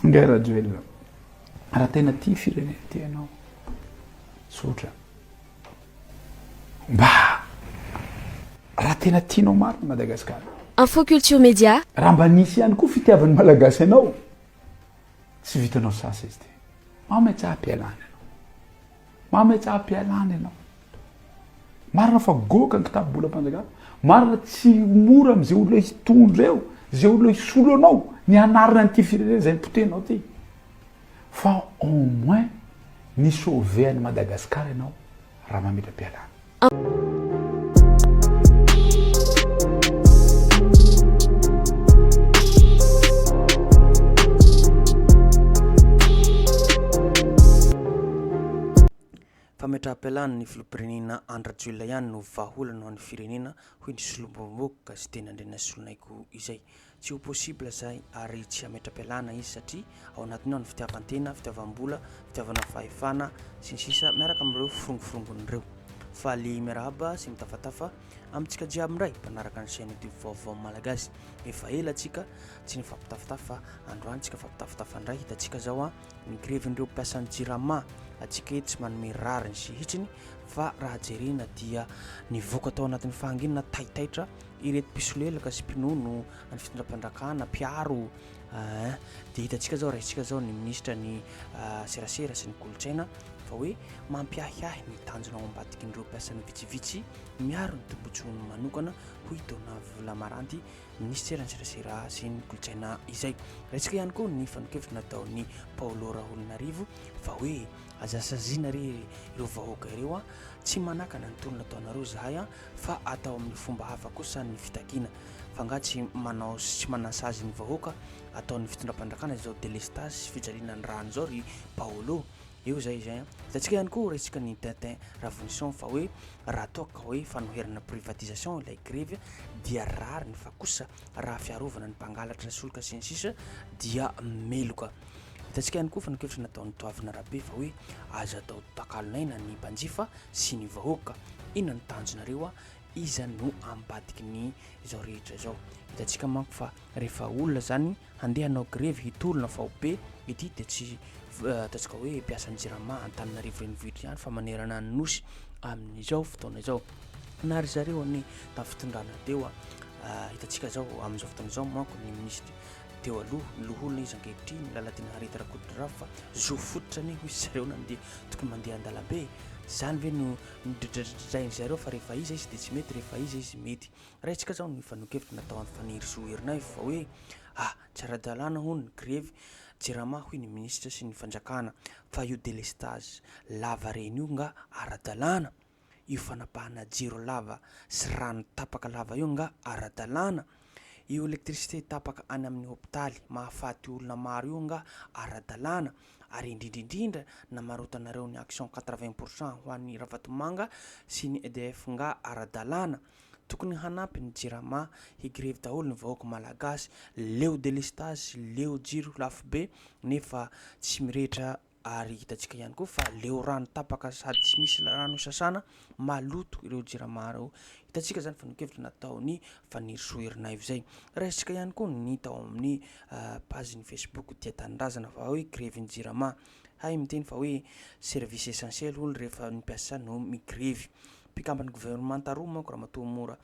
Ingahy Rajoelina, raha tena tia firenena ity ianao, tsotra, Mba raha tena tianao marina Madagascar. Info Culture Media. Raha mba nisy ihany koa fitiavan'ny Malagasy anao, tsy vitanao sasa izy ity. Mametsa am-pialana ianao. Mametsa am-pialana ianao. Marina fa goaka ny kitabobolam-panjakana. Marina tsy mora amin'izay olona hitondra eo, izay olona hisolo anao, ny hanarina an'ity firenena izay nipotehinao ity. fa au moins mi sauver an'i Madagascar ianao Ramamitram-pialana. Fametraham-pialana ny filoham-pirenena Andry Rajoelina ihany no vahaolana ho an'ny firenena, hoy ny solombavambahoaka Siteny Andrianasolonaiko izay. Tsy ho possible zay ary tsy hametra-pialana izy satria ao anatiny ao ny fitiavan-tena, fitiavam-bola, fitiavana fahefana, sy ny sisa miaraka amin'ireo firongoforongony ireo. Faly miarahaba sy mitafatafa amintsika jiaby indray mpanaraka ny chaîne YouTube Vaovao Malagasy. Efa ela tsika tsy nifampitafitafy fa androany tsika mifampitafitafy indray. Hitantsika zao a, ny grevin'ireo mpiasan'ny Jirama atsika eto tsy manome rariny sy hitsiny fa raha jerena dia nivoaka tao anatin'ny fahanginana taitaitra ireto mpisolelaka sy mpinono any fitondram-panjakana mpiaro eh, dia hitantsika zao raintsika zao ny minisitra ny eh, serasera sy ny kolontsaina fa hoe mampiahiahy ny tanjona ao ambadikin'ireo mpiasan'ny vitsivitsy miaro ny tombotsoany manokana hoy i Dona Volamaranty minisitera ny serasera sy ny kolontsaina izay raintsika ihany koa ny fanokevitra nataon'ny Paolo Raholinarivo fa hoe aza saziana re ireo vahoaka ireo a tsy manakana ny tolona ataonareo zahay a fa atao amin'ny fomba hafa kosa ny fitakiana fa nga tsy manao sy manasazy ny vahoaka ataon'ny fitondram-panjakana izao delestazy sy fijaliana ny rany izao ry Paolo eo zay izay an hitantsika ihany koa resaka ny Tintin Ravonison fa hoe raha toa ka hoe fanoherana privatisation ilay grevy dia rariny fa kosa raha fiarovana ny mpangalatra solika sy ny sisa dia meloka hitantsika ihany koa fanakevitra nataon'ny toavina rabe fa hoe aza atao takalon'aina ny mpanjifa sy ny vahoaka inona ny tanjonareo a iza no ampadiky ny izao rehetra izao hitantsika manko fa rehefa olona zany Handeha hanao grevy hitolona faobe ity dia tsy ataontsika hoe mpiasan'ny jirama Antananarivo renivohitra ihany fa manerana ny Nosy amin'izao fotoana izao na ry zareo anie tafitondrana teo a ah, hitantsika zao amin'izao fotoana izao manko ny minisitra teo aloha ny loholona izy ankehitriny Lalatiana Harita Rakotondrava fa zo fototra anie hoy zareo nandeha tokony mandeha an-dalambe izany ve no nodridradradrain'i zareo fa rehefa iza izy dia tsy mety rehefa iza izy mety Raisiko izao ny fanehoan-kevitra nataon'i Fanirisoa Erinaivo fa hoe A, tsy ara-dalàna hono ny grevy Jirama hoy ny minisitra sy ny fanjakana fa io delestazy lava reny io nga ara-dalàna? Io fanapahana jiro lava sy rano tapaka lava io nga ara-dalàna? Io électricité tapaka any amin'ny hopitaly mahafaty olona maro io nga ara-dalàna? Ary indrindra indrindra namarotanareo ny action quatre-vingts pour cent ho an'i Ravatomanga sy ny EDF nga ara-dalàna? Tokony hanampy ny jirama hi grevy daholo ny vahoaka malagasy leo delestazy leo jiro lafo be nefa tsy mirehitra ary hitantsika ihany koa fa leo rano tapaka sady tsy misy rano hisasana maloto ireo jirama ireo hitantsika zany fanokevitra nataony fanirisoa herinaivo zay raisitsika ihany koa ny tao amin'ny page ny facebook dia tanindrazana fa hoe grevy ny jirama hay miteny fa hoe service essentiel hono rehefa ny mpiasa no migrevy Mpikamban'ny governemanta roa manko Ramatoa Mora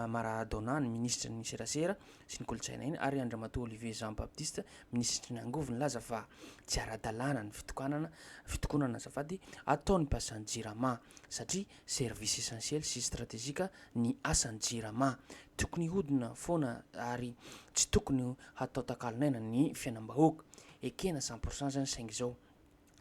Maradona, ny minisitry ny serasera sy ny kolontsaina iny ary Andriamatoa Olivier Jean Baptiste, minisitry ny angovo nilaza fa tsy ara-dalàna ny fitokanana, fitokonana azafady, ataon'ny mpiasan'ny Jirama satria service essentiel sy stratégique ny asan'ny Jirama. Tokony hodina foana ary tsy tokony hatao takalon'aina ny fiainam-bahoaka. Ekena cent pour cent izany saingy izao.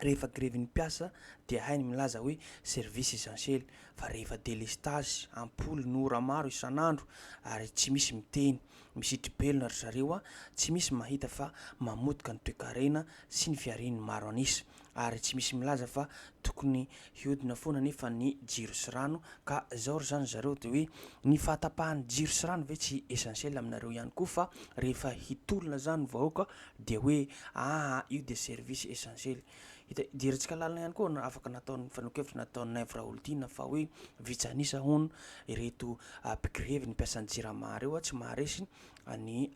Rehefa grevy ny mpiasa dia hay ny milaza hoe service essentiel fa rehefa delestazy, ampoly no ora maro isan'andro ary tsy misy miteny, misitribelona ry zareo a, tsy misy mahita fa mamotika ny toekarena sy ny fiharian'ny maro an'isa ary tsy misy milaza fa tokony hiodina foana nefa ny jiro sy rano ka zao ry zany zareo de hoe ny fahatapahan'ny jiro sy rano ve tsy essentiel aminareo ihany koa fa rehefa hitolona zany vahoaka Dia hoe aa io dia service essentiel. Hita, jerintsika lalina ihany koa ny afaka nataon'ny fanehoan-kevitra nataon'i Naivo Raholdina fa hoe vitsy an'isa hono ireto mpigrevy ny mpiasan'ny jirama ireo tsy maharesy ny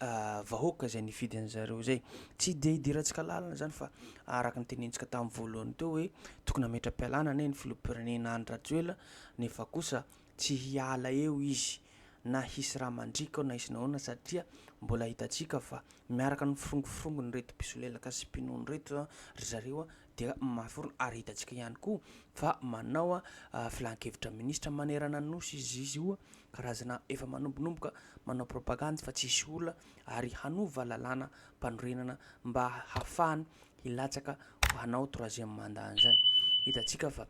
vahoaka izay nifidy an'i zareo izay. Tsy dia idirantsika lalina izany fa araka ny tenenintsika tamin'ny voalohany teo hoe tokony hametra-pialana anie ny filoham-pirenena Andry Rajoelina nefa kosa Tsy hiala eo izy na hisy rà mandriaka ao na hisy nahoana satria mbola hitantsika fa miaraka ny firongofirongon'ireto mpisolelaka sy mpinono ireto ry zareo dia mafy orina ary hitantsika ihany koa fa manao filan-kevitra minisitra manerana ny Nosy izy izy io karazana efa manombonomboka manao propagandy fa tsy hisy olona ary hanova lalàna mpanorenana mba hahafahany hilatsaka ho hanao troisième mandat an'izany hitantsika fa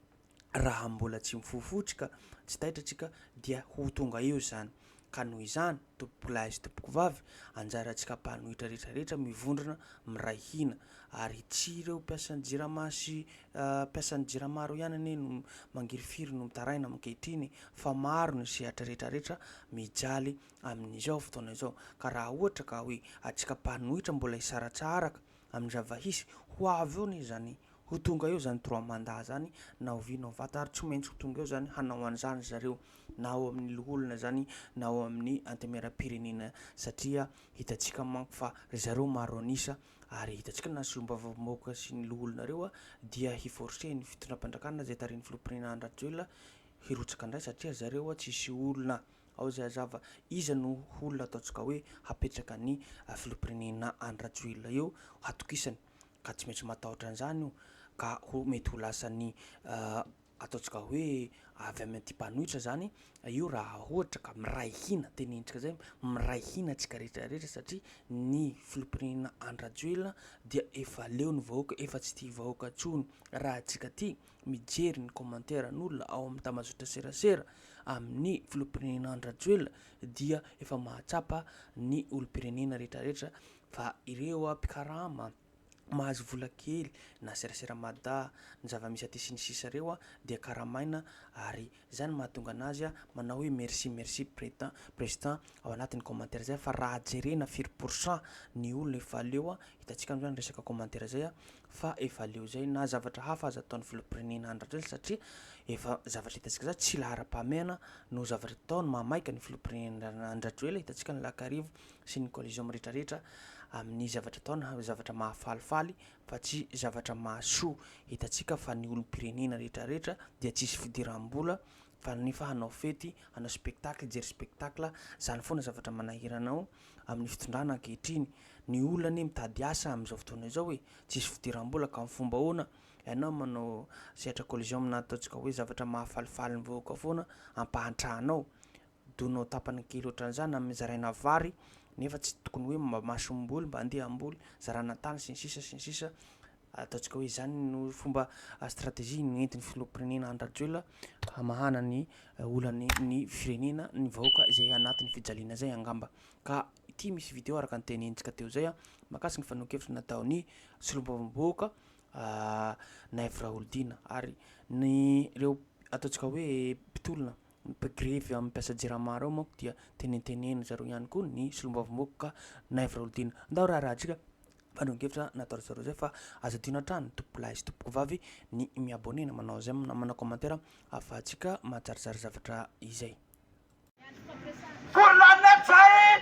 raha mbola tsy mifoha fotsy ka tsy taitra antsika dia ho tonga eo izany. Ka noho izany, tompokolahy sy tompokovavy, anjarantsika mpanohitra rehetra rehetra mivondrona miray hina. Ary tsy ireo mpiasan'ny Jirama sy mpiasan'ny Jirama ireo ihany anie no mangirifiry no mitaraina ankehitriny fa maro ny sehatra rehetra rehetra mijaly amin'izao fotoana izao. Ka raha ohatra ka hoe antsika mpanohitra mbola hisaratsaraka amin'ny zava-hisy ho avy eo anie zany ho tonga eo zany trois mandat zany na ho vy na ho faty ary tsy maintsy ho tonga eo zany hanao an'izany zareo na ao amin'ny loholona zany na ao amin'ny antemieram-pirenena satria hitantsika manko fa ry zareo maro an'isa ary hitantsika na solombavambahoaka sy ny loholona reo a dia hi-forcer ny fitondram-panjakana zay tarihin'ny filoham-pirenena Andry Rajoelina hirotsaka indray satria zareo a tsisy olona Ao izay hazava, iza no olona ataontsika hoe hapetraka ny filoham-pirenena any Rajoelina eo hatokisany ka tsy maintsy matahotra an'izany io ka ho mety ho lasan'ny ataontsika hoe avy amin'ny aty mpanohitra izany io raha ohatra ka miray hina tenentsika izay miray hina antsika rehetra rehetra satria ny filoham-pirenena any Rajoelina dia efa leo ny vahoaka efa tsy tia vahoaka intsony raha antsika ity mijery ny kômanteran'olona ao amin'ny tambazotraserasera amin'ny filoham-pirenena Andry Rajoelina dia efa mahatsapa ny olom-pirenena rehetrarehetra fa ireo mpikarama mahazo vola kely na serasera mada ny zava-misy aty sy ny sisa ireo dia karamaina ary Izay no mahatonga anazy manao hoe merci merci president president ao anatiny commentaire izay fa raha jerena firy pourcent ny olona efa leo hitantsika amizany resaka commentaire izay fa efa leo izay na zavatra hafa aza ataony filompirenena Andry Rajoelina satria efa zavatra hitantsika izany tsy lahara pahamehana no zavatra ataony mahamaika ny filompirenena Andry Rajoelina hitantsika ny lakarivo sy ny collision miretraretra aminy zavatra ataony zavatra mahafalifaly fa tsy zavatra mahasoa. Hitantsika fa ny olom-pirenena rehetrarehetra dia tsisy fidiram-bola fa nefa hanao fety, hanao spectacle, hijery spectacle, izany foana zavatra manahirana ao amin'ny fitondrana ankehitriny. Ny olona anie mitady asa amin'izao fotoana izao e! Tsisy fidiram-bola ka amin'ny fomba ahoana ianao manao sehatra collision aminà ataontsika hoe zavatra mahafalifaly ny vahoaka foana ampahantrahanao? Donao tapany kely ohatran'izany amin'ny zaraina vary nefa tsy tokony hoe mba masom-boly, mba andiam-boly, zarana tany sy ny sisa sy ny sisa. Ataontsika hoe izany no fomba stratégie nentin'ny filoham-pirenena Andry Rajoelina hamahana ny olany ny firenena, ny vahoaka izay anatin'ny fijaliana izay angamba. Ka ity misy video araka ny tenenintsika teo izay mahakasika ny fanehoan-kevitra nataon'ny solombavambahoaka Naivo Raholdina ary ny ireo ataontsika hoe mpitolona Ny mpigrevy amin'ny mpiasa jirama ireo manko dia tenentenenin-dry zareo ihany koa ny solombavambahoaka Naivo Raholdina. Ndao raharahantsika fandrahoan-kevitra nataon-dry zareo izay fa aza adino hatrany tompokolahy sy tompokovavy ny mi-abonner na manao j'aime na manao commentaire ahafahantsika mahazarizary zavatra izay. Colonel Ntsay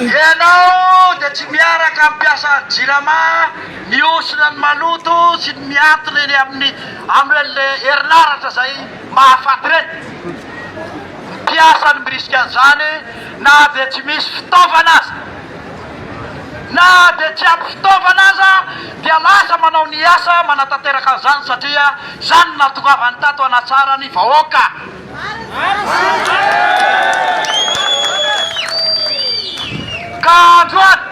Ianao dia tsy miaraka amin'ny mpiasa Jirama mihosona ny maloto sy ny miantona eny amin'ny amin'ireny herinaratra izay mahafaty ireny. Ny mpiasa no mirisika an'izany na dia tsy misy fitaovana aza. Na dia tsy ampy fitaovana aza dia lasa manao ny asa manatanteraka an'izany satria izany no nahatongavany tato hanatsara ny vahoaka. Ka androany.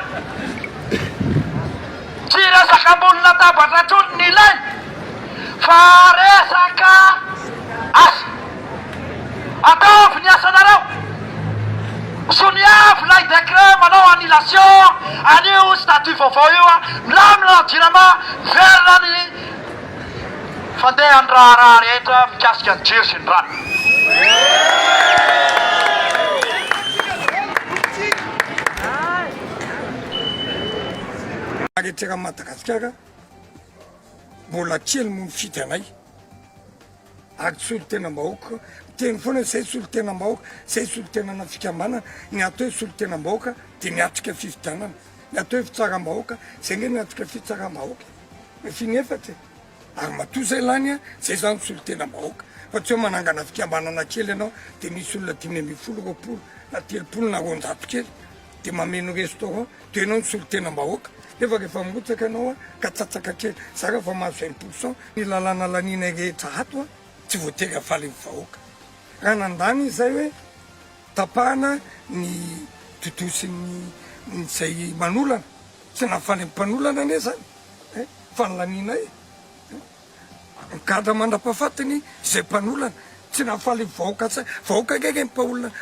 Tsy resaka ambony latabatra intsony ny ilaina fa resaka asa. Ataovy ny asanareo. Soniavo ilay décret manao annulation an'io statut vaovao io. Milamina ny Jirama, miverina ny fandehan'ny raharaha rehetra mikasika ny jiro sy ny rano. Ary ety raha Madagasikara mbola kely no mifidy anay ary tsy solotenam-bahoaka miteny foana hoe zay solotenam-bahoaka zay solotenana fikambanana ny atao hoe solotenam-bahoaka dia miatrika fifidianana ny atao hoe fitsaram-bahoaka zay nge miatrika fitsaram-bahoaka ny finy efatra e ary matoa zay lany a zay zany solotenam-bahoaka fa tsy hoe manangana fikambanana kely ianao dia misy olona dimy ambin'ny folo roapolo na telopolo na roanjato kely Dia mameno restaurant dia enao ny solotena mbahoaka nefa rehefa mirotsaka enao ka tsatsaka kely za raha efa mahazo un pourcent ny lalàna laninay rehetra ato a tsy voatery hafaly ny vahoaka raha nandany izay hoe tapahana ny dodosin'ny izay manolana tsy nahafaly ny mpanolana anie zany eh fa ny laninay eh Gadra mandrapafatiny izay mpanolana tsy nahafaly vahoaka tsy vahoaka nge nge ny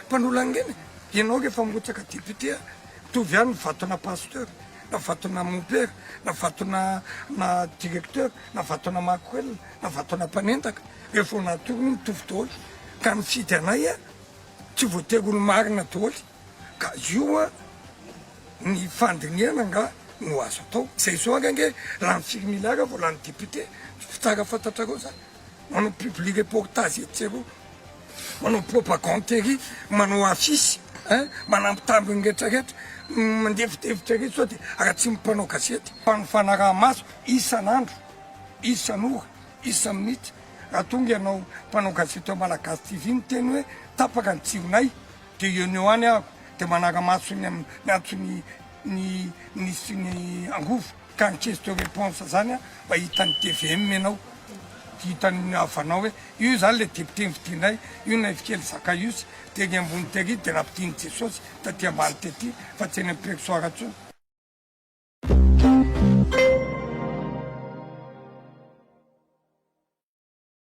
mpanolana nge ny ianao nge efa mirotsaka député a mitovy ihany ny vatona pasteur na vatona mompera na vatona na directeur na vatona makorel na vatona mpanendaka rehef vao natoro hono mitovy daholo ka nifidy anay a tsy voatery ho ny marina daholo ka io an ny fandinihana nga no azo atao zay zao anga nge lany firy milliard vao lany député fitsara fantatrareo zany manao public reportage etsy sy eroa manao propagande ery manao affiche an manampy tambiny rehetra rehetra mandefidefitra ery sao de aratsimo mpanao gazety fa ny fanaraha maso isan'andro isan'ora isa minitra raha tonga ianao mpanao gazety ao malagasy TV niteny hoe tapaka ny jironay Dia eo no any aho dia manara-maso ny amin'ny antson'ny ny minisitry ny angovo ka ny question réponse izany an, mba hitan'ny tvm ianao, hitan'ny havanao hoe io izany ilay député nofidianay, io ilay fikely Zakaios tery ambony tery dia nampidian'i Jesosy taty ambany tety fa tsy eny amin'ny presoir intsony.